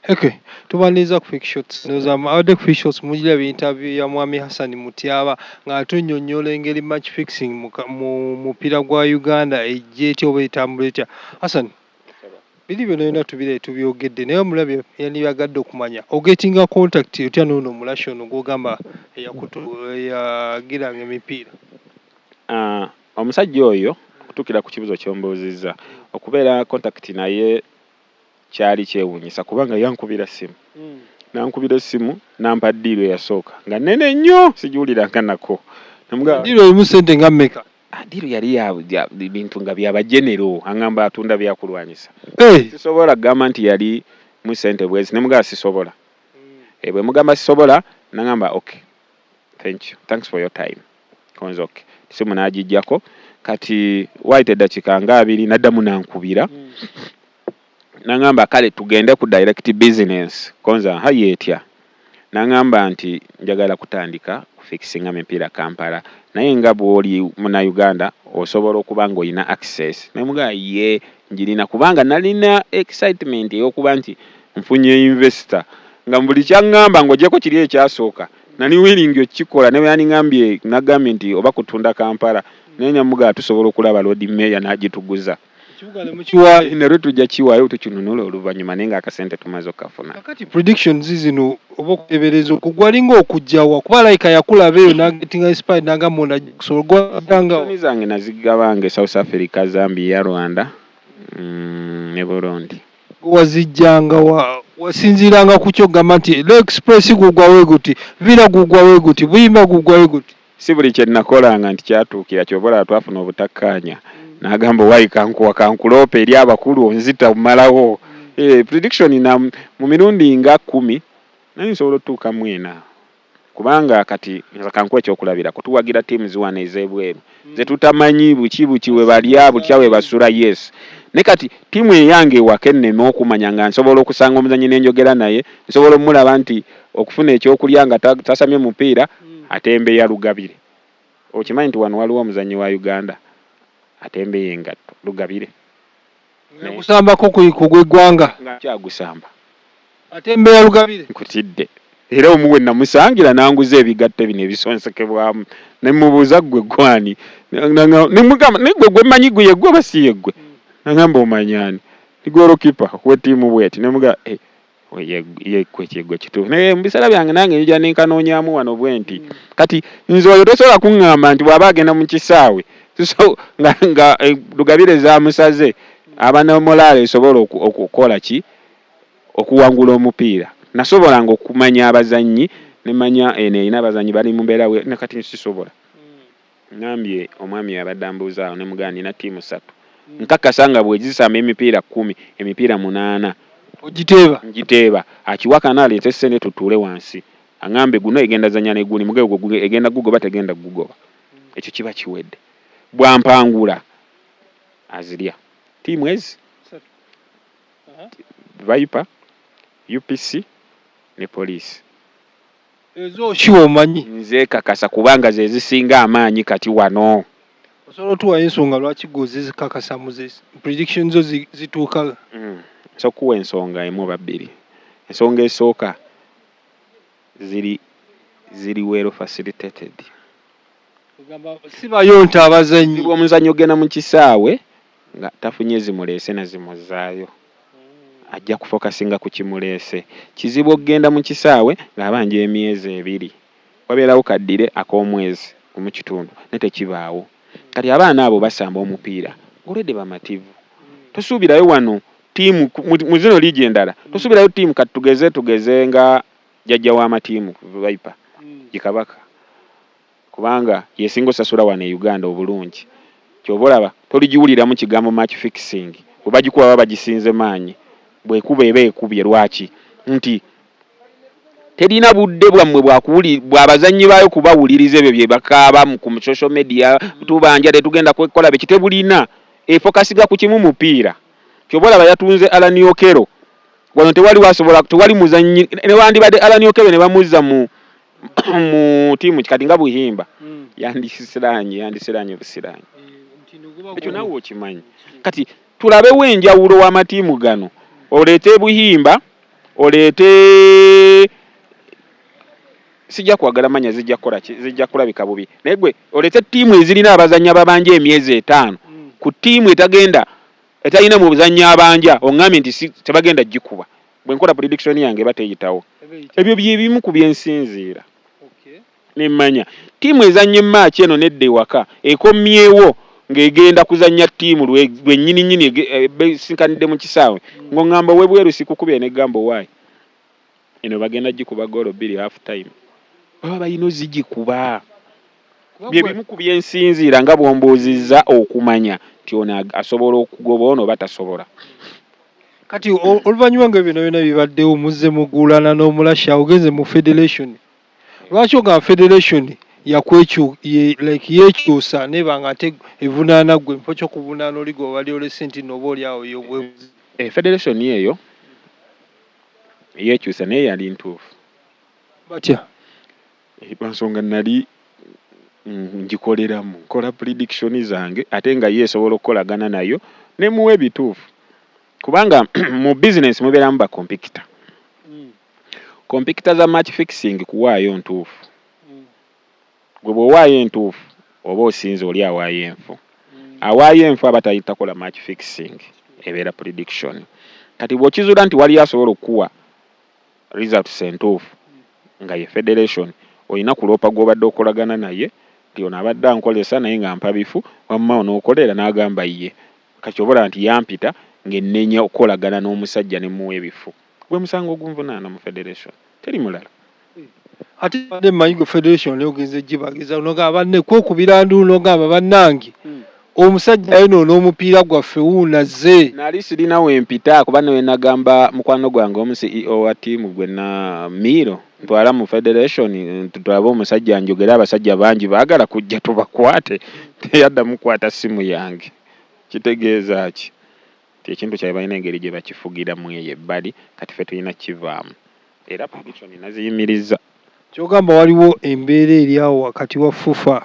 Okay. Tubaniriza ku shots ndoza abadde ku shots mujira bi interview ya Mwami Hassan Mutyaba ng'atunyonnyola engeri match fixing mu mupiira gwa Uganda ejja etya oba etambula etya. Hassan, biri byonna byonna tubirabe tubyogedde naye omulabi yandibyagadde okumanya ogetinga contact otya n'ono omulashi ono gw'ogamba eyagiranga emipiira? Ah, omusajja oyo okutuukira ku kibuzo ky'ombuuzizza okubeera contact naye kyali kyewuunyisa kubanga yankubira ssimu mm. nankubira essimu nampa ddiiru eyasooka nga nene nnyo sigiwuliranga nako ddiiru erimu ssente nga mmeka ah, ddiiru yali bintu nga byabajenero aŋamba atunda byakulwanyisa eh! sisobola kugamba nti yali mu ssente bwezi ne mugamba sisobola mm. eh, bwe mugamba sisobola naŋamba ok thank you thanks for your time konzok simu nagijjako kati waayita eddakiika nga abiri naddamu nankubira mm. nangamba kale tugende ku direct business konza ha yeetya nangamba nti njagala kutandika kufikisinga mipiira kampala naye nga bwoli muna uganda osobola okuba nga olina access namugaa ye njirina kubanga nalina excitement eyokuba nti Nfunye investor nga mubuli kyangamba ngojeko kiri ekyasooka nali willing okikola nebweyandingambye nagambye nti oba kutunda Kampala naye namugamba tusobola okulaba Lord Mayor nagituguza Ekibuga ne mukiwaayo. Eno lwe tujja kiwaayo tukinunule oluvanyuma naye nga akasente tumaze okukafuna. Kakati predictions zino oba okutebereza okwo gwalinga okujja wa kuba alabika yakulaba eyo nagetinga inspired nagamba ono ajja kusobola gwe wagiranga wa? Prediction zange nazigabanga e South Africa, Zambia, Rwanda ne Burundi. Gwe wazijjanga wa? Wasinziiranga ku ki okugamba nti Law Express gugwa we guti, Villa gugwa we guti, Buyimba gugwa we guti? Si buli kye nakolanga nti kyatuukira ky'ova olaba twafuna obutakkaanya n'agamba owaye kankuwa ka nkuloope eri abakulu onzita omalawo. Hee prediction na mu mirundi nga kkumi nali nsobola otuuka mu ena Kubanga kati nze kankuwe ekyokulabirako tuwagira teams wano ezebweru zetutamanyi buki buki webalya butya webasula yes naye kati team eyange ewaka enneme okumanya nga nsobola okusanga omuzanyi nenjogera naye nsobola omulaba nti okufuna ekyokulya nga tasamye mupiira atembeya lugabire okimanyi nti wano waliwo omuzanyi wa Uganda atembeya engatto lugabire. Naye gusamba ko ku ku gwe gwanga. Nga nkyagusamba. Ate mbeera lugabire. Nkutidde. Era omu we namusangila nanguza ebigatto bino ebisonsekebwamu ne mubuuza ggwe ggwe ani? Ne mugamba naye ggwe gwe manyi ggwe ye ggwe oba si ye ggwe? Nangamba omanyi ani? Ndi goolokipa we ttiimu bweti ne mugamba eeh. yekwekigwe kituufu naye mubiseera byange nange nja nenkanonyamu wano bwenti mm. kati nze oyo tosobola kuŋŋamba nti bwaba agenda mu kisaawe so nga, nga e, lugabire zamusaze aba ne molaalo esobola okukola ki okuwangula omupiira nasobolanga okumanya abazannyi nemanya eno erina abazannyi bali mu mbeera kati nsisobola Ŋŋambye omwami oyo abadde ambuuza awo ne mugamba nnina ttiimu ssatu. Nkakasa nga bwe zisamba emipiira kkumi, emipiira munaana. Ogiteeba? Ngiteeba. Akiwakana aleete ssente tutuule wansi aŋŋambe guno egenda zannya ne guli, muge ogwo egenda kugugoba tegenda kugugoba. Ekyo kiba kiwedde. Bw'ampangula azirya ttiimu ezi, Viper, UPC ne poliisi. Ezo ki omanyi? Nzekakasa kubanga ze zisinga amaanyi kati wano. Osobola otuwa ensonga lwaki gwe ozizikakasa mu ze prediction zo zituuka? Nsobola okukuwa ensonga emu oba bbiri. Ensonga esooka ziri ziri well facilitated. Ogamba sibayonta abazannyi. Omuzibu omuzannyi ogenda mu kisaawe nga tafunye zimuleese na zimuzzaayo ajja kufokasinga ku kimuleese. Kizibu okugenda mu kisaawe ng'abanja emyezi ebiri. Wabeerawo kaddire ak'omwezi gumu kitundu naye tekibaawo. Kati abaana abo basamba omupiira ng'olwedde bamativu. Tosuubirayo wano ttiimu mu zino liigi endala tosuubirayo ttiimu kati tugeze tugeze nga jjajja w'amatiimu Viper, ye Kabaka. kubanga yesinga osasula wano e Uganda obulungi kyova olaba toligiwuliramu kigambo match fixing bwebagikuwa baba bagisinze maanyi bwekuba eba ekubye lwaki nti terina budde bwammwe bwabazannyi baayo kubawuliriza ebyo byebakaaba ku social media tubanja tetugenda kwekola biki tebulina efokasiga ku kimu mupiira kyova olaba yatunze Alan Okello wano tewaliwo asobola tewali muzannyi newandibadde Alan Okello nebamuzza mu mu tiimu kati nga buhimba mm. yandisiranye yandisiranye busiranye eh, ekyo nawe okimanyi kati tulabewo enjawulo w'amatiimu gano oleete buhimba oleete sijja kwagala manya zijja kukola zijja kulabika bubi naye gwe oleete ttiimu ezirina abazannya babanja emyezi etaano mm. ku ttiimu etagenda Etalina muzanyi abanja ongambye nti tebagenda gikuba bwenkola prediction yange eba teyitawo ebyo byebimu ku byensinziira nemmanya ttiimu ezanya emaaki eno nedda ewaka ekomyewo ng'egenda kuzanya ttiimu lwenyini nyini eh, besinkanidde mu kisaawe mm. ng'ongamba owebweru sikukubye negamba owaayi eno bagenda gikuba goolo bbiri half time baba balina ozigikuba Bye bimu ku bye nsinziira nga bw'ombuuzizza okumanya nti ono asobola okugoba ono oba tasobola. Kati oluvannyuma nga byonna byonna bibaddewo muzze muguulana n'Omulasha ogenze mu federation. Lwaki ogamba federation like yeekyusa n'eba ng'ate evunaana ggwe mu kifo ky'okuvunaana oli gwe wabadde olese nti nno oboolyawo y'ogwebuze? Federation eyo yeekyusa naye yali ntuufu. Batya? Eh, lwa nsonga nnali mm, ngikoleramu nkola prediction zange ate nga ye esobola okukolagana nayo ne muwa ebituufu kubanga mu bizinensi mubeeramu bakompikita mm. kompikita za match fixing kuwaayo ntuufu mm. gwe bw'owaayo entuufu oba osinze oli awaayo enfu awaayo enfu aba tayitakola match fixing ebeera prediction kati bw'okizuula nti waliyo asobola okukuwa Results entuufu nga ye federation olina kuloopa gw'obadde okolagana naye nti ono abadde ankozesa naye ng'ampa bifu, wamma onookolera? N'agamba ye. Kati oba olaba nti yampita ng'ennenya okukolagana n'omusajja ne mmuwa ebifu. Gwe musango ogunvunaana mu federation, teri mulala. Ate mbadde mmanyi ggwe federation nayo ogenze gibagiza n'ogamba banne kwekubira nduulu n'ogamba bannange. Omusajja ayonoona omupiira gwaffe wuuno azze. Nali sirina we mpita kuba ne bwe nagamba mukwano gwange omu CEO wa ttiimu gwe na, Miiro, ntwala mu Federation tulabe omusajja anjogere abasajja bangi baagala kujja tubakwate teyaddamu kukwata ssimu yange. Kitegeeza ki? Kyekintu kyabwe balina engeri gyebakifugiramu eyo ebbali kati ffe tulina kukivaamu era prediction naziyimirizza. Kyogamba waliwo embeera eri awo wakati wa FUFA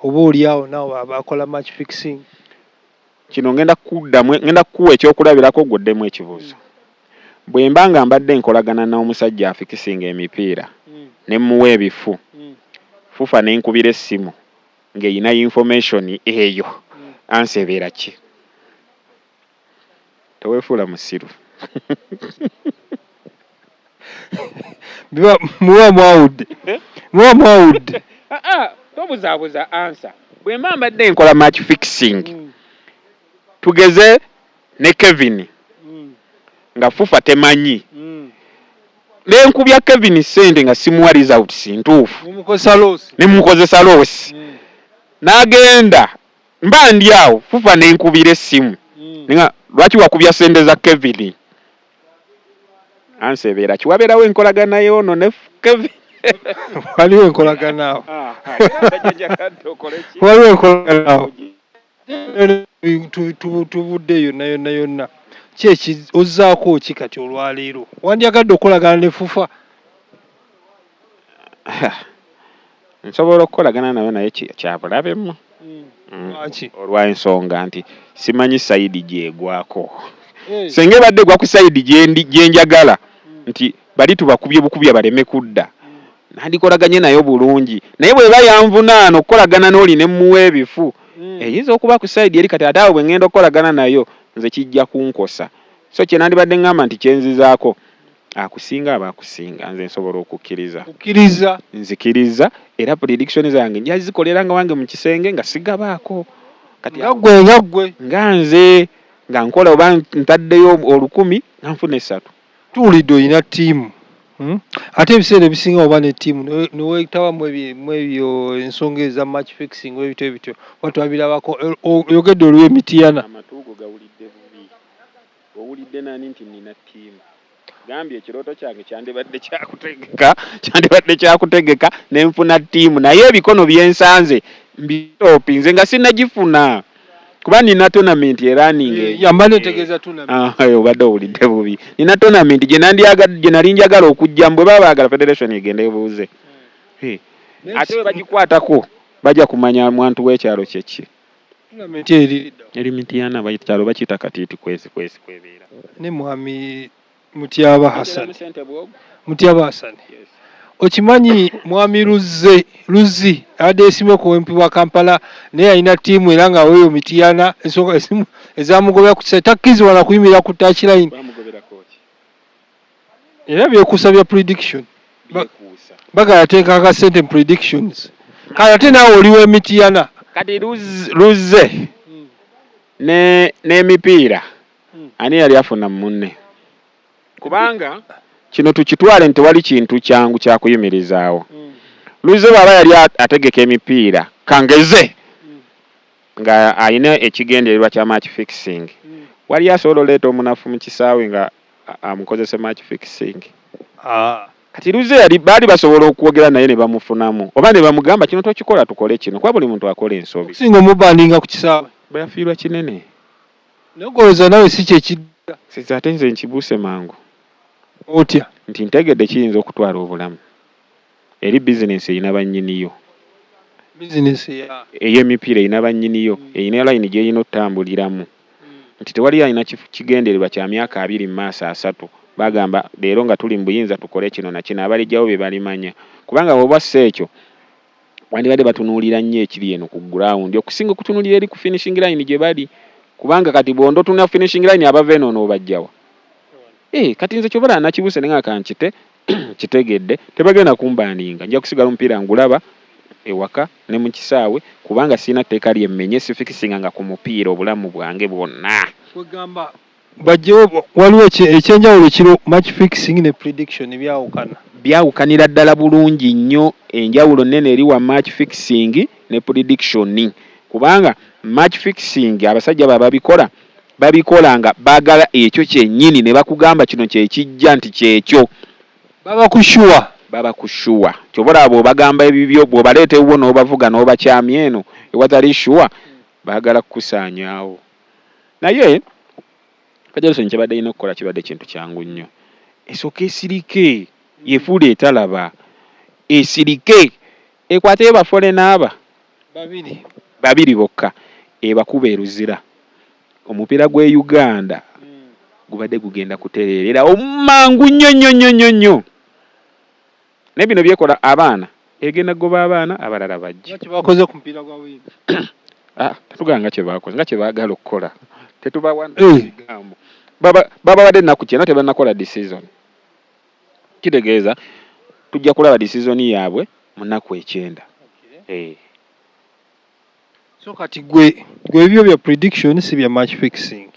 oba oli awo nabo abakola match fixing? Kino ngenda kukuddamu, ngenda kukuwa eky'okulabirako gwe oddemu ekibuuzo. Bwemba nga mbadde nkolagana n'omusajja afikisinga emipiira ne mmuwa ebifu, FUFA nenkubira essimu, nga eyina information eyo answer ebeera ki? Tewefuula musiru. Muba mwawudde. Muba mwawudde. Tobuzabuza answer. Bwemba mbadde nkola match fixing tugeze. ne Kevin nga fufa temanyi nenkubya Kevin sente nga simuwa results ntuufu nemukozesa loosi nagenda mba ndi awo fufa nenkubira essimu nenga lwaki wakubya sente za Kevin answer ebeera ki waberawo enkolagana yono ne Kevin waliwo enkolagana awo waliwo enkolagana awo. tubudde yonna yonna yonna kyeki ozzaako ki kati olwaleero wandyagadde okukolagana ne fufa nsobola okukolagana nayo naye kyabulabemu hmm. hmm. olwensonga nti simanyi sayidi gyegwako eh. senga ebadde egwa ku sayidi gyenjagala hmm. nti Bali tubakubye bukubya baleme kudda. Nandikolaganye nayo bulungi. Naye bweba yanvunaana okukolagana n'oli ne mmuwa ebifu, eyinza okuba ku side eri kati ate awo bwe ngenda okukolagana nayo nze kijja kunkosa. So kye nandibadde ngamba nti kye nzizaako akusinga aba akusinga. Nze nsobola okukkiriza. Okkirizza? Nzikirizza era prediction zange nja zikolera nga wange mu kisenge nga sigabaako. Kati awo. Nga ggwe, nga ggwe. Nga nze. Nga nkola oba ntaddeyo olukumi nga nfuna essatu. Tuwulidde olina ttiimu hmm? ate ebiseera ebisinga oba ne ttiimu newetawa mwebyo ensonga eza match fixing ebito ebityo oba twabirabako oyogedde oliwo emitiyana amatuugo gawulidde bubi owulidde nani nti nina ttiimu gambye ekirooto kyange kyandibadde kyakutegeka kyandibadde kyakutegeka nenfuna ttiimu naye ebikono byensanze mbitoopi nze nga sinagifuna kuba nina tonamenti eraninga eyo yamala entegeeza tonamenti ah, obadde owulidde bubi nina tonamenti gye nali njagala okujjamu bwe baba baagala federation egenda ebuuze hmm. ate bwe bagikwatako bajja kumanya mwantu w'ekyalo kyeki eri mitiyana kyalo bakiyita katiiti kwezi kwezi kwebeera ne mwami Mutyaba Hassan. Mutyaba Hassan. Okimanyi mwami Luzze Luzzi abadde yesimye ku MP wa Kampala naye yalina ttiimu era nga weeyo Mityana ensonga ezimu ezamugobera ku kisa takkirizibwa na kuyimirira ku touch line era byekuusa bya prediction bagala ateeka akasente mu predictions kale ate naawe oli w'emityana kati Luzze hmm. n'emipiira Ani eyali afuna mu munne? Kubanga kino tukitwale nti tewali kintu kyangu kya kuyimirizaawo. Luzze bw'aba yali ategeka emipiira kangeze ng'alina ekigendererwa kya match fixing, waliyo asobola oleeta omunafu mu kisaawe ng'amukozese match fixing? Kati Luzze yali baali basobola okwogera naye ne bamufunamu oba ne bamugamba kino tokikola tukole kino kuba buli muntu akola ensobi. Okusinga omubandinga ku kisaawe. Bwe yafiirwa kinene. Naye gwe olowoza nawe si kyekidda. Sisi ate nze nkibuuse mangu. Otya? Nti ntegedde kiyinza okutwala obulamu eri business eyina banyiniyo. Business ya? Eye mipiira eyina banyiniyo, eyina line gyeyina otambuliramu. Nti tewali alina kigendererwa kya myaka abiri mumaaso asatu bagamba leero nga tuli mubuyinza tukole kino nakino abalijawo bebalimanya. Kubanga bwoba osse ekyo. bandibadde batunuulira nnyo ekiri eno ku ground okusinga okutunuulira eri ku finishing line gye bali kubanga kati bw'ondotunula finishing line abava eno onoobajjawa ee eh, kati nze kyobala nakibuse ne ngaka nkite kitegedde tebagenda kumbaaninga nja kusigala omupiira ngulaba ewaka ne mu kisaawe kubanga sirina tteeka lyemmenye sifikisinga nga ku mupiira obulamu bwange bwonna kwegamba Bajjewo waliwo ekyenjawulo kiro match fixing ne prediction byawukana. Byawukanira ddala bulungi nnyo enjawulo nnene eri wa match fixing ne prediction kubanga match fixing abasajja baba babikola babikola nga bagala ekyo kyenyini nebakugamba kino kyekijja nti kyekyo baba ku sure baba ku sure kyoba olaba bwobagamba ebibyo bwobaleeta ewuwo nobavuga nobakyamya eno ewatali sure bagala kukusaanyawo. naye federation kyebadde erina okukola kibadde kintu kyangu nnyo esooka esirike yefuula etalaba esirike ekwateyo bafolena aba babiri babiri bokka ebakuba eruzira omupiira gwe uganda gubadde gugenda kutereerera omangu nnyo nnyo nnyo nnyo nnyo Naye bino byekola abaana egenda kugoba abaana abalala bajje. Nga kyebakoze ku mupiira gwa wiiki. Ah, tatugamba nga kyebakoze nga kyebaagala okukola tetubawa bigambo. Baba babawadde ennaku ki eno tebannakola decision. Kitegeeza tujja kulaba decision yaabwe mu nnaku ekyenda. Eh. So kati gwe gwe ebibyo bya prediction si bya match fixing.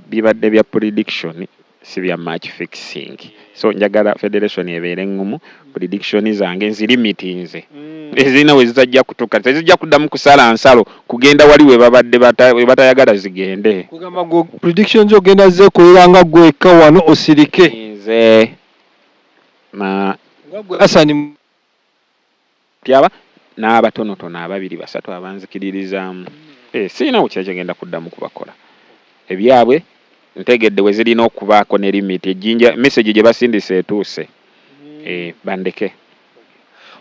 bibadde bya prediction si bya match fixing so njagala federation ebeere engumu prediction zange nzilimitinze mm. ezirina we zitajja kutuka tezijja kuddamu kusala nsalo kugenda wali we babadde we batayagala zigende kugamba gwo prediction zo ogenda zeekolera nga gwekka wano osirike nze na nga gwe asani Tyaba n'abatonotono ababiri basatu abanzikiririzaamu. Eh, sirina we kye genda kuddamu kubakola. Ebyabwe ntegedde we zirina okubaako ne limiti. Ejjinja, mesegi gye basindise etuuse. Eh, bandeke.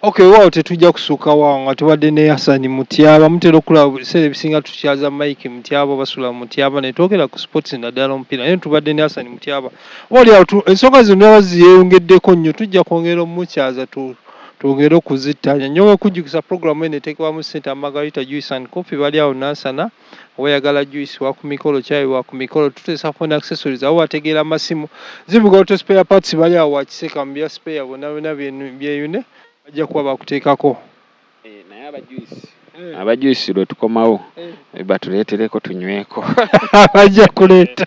Ok, weewaawo tetujja kusukka wo awo nga tubadde ne Hassan Mutyaba. Mutera okulaba buli kiseera ebisinga tukyaza Mike Mutyaba oba Sula Mutyaba ne twogera ku sipootisi naddala omupiira naye tubadde ne Hassan Mutyaba. Oba oli awo tu, ensonga zino ndaba ziyeyongeddeko nnyo, tujja kwongera omukyaza tu, Twongere okuzittaanya. Nnyowa okujjukisa pulogulaamu eno eteekebwamu ssente aba Margarita Juice and Coffee bali awo Nansana. Oba oyagala juyisi, wa ku mikolo, caayi, wa ku mikolo, tuteesa phone accessories, abo bategeera masimu, zivuga auto spare parts bali awo wa Kiseeka mu bya spare bonna byonna byeyune bajja kuba bakuteekako. Eh, naye aba juyisi eh. aba juyisi lwe tukomawo eh. batuleetereko tunyweko. Bajja kuleeta.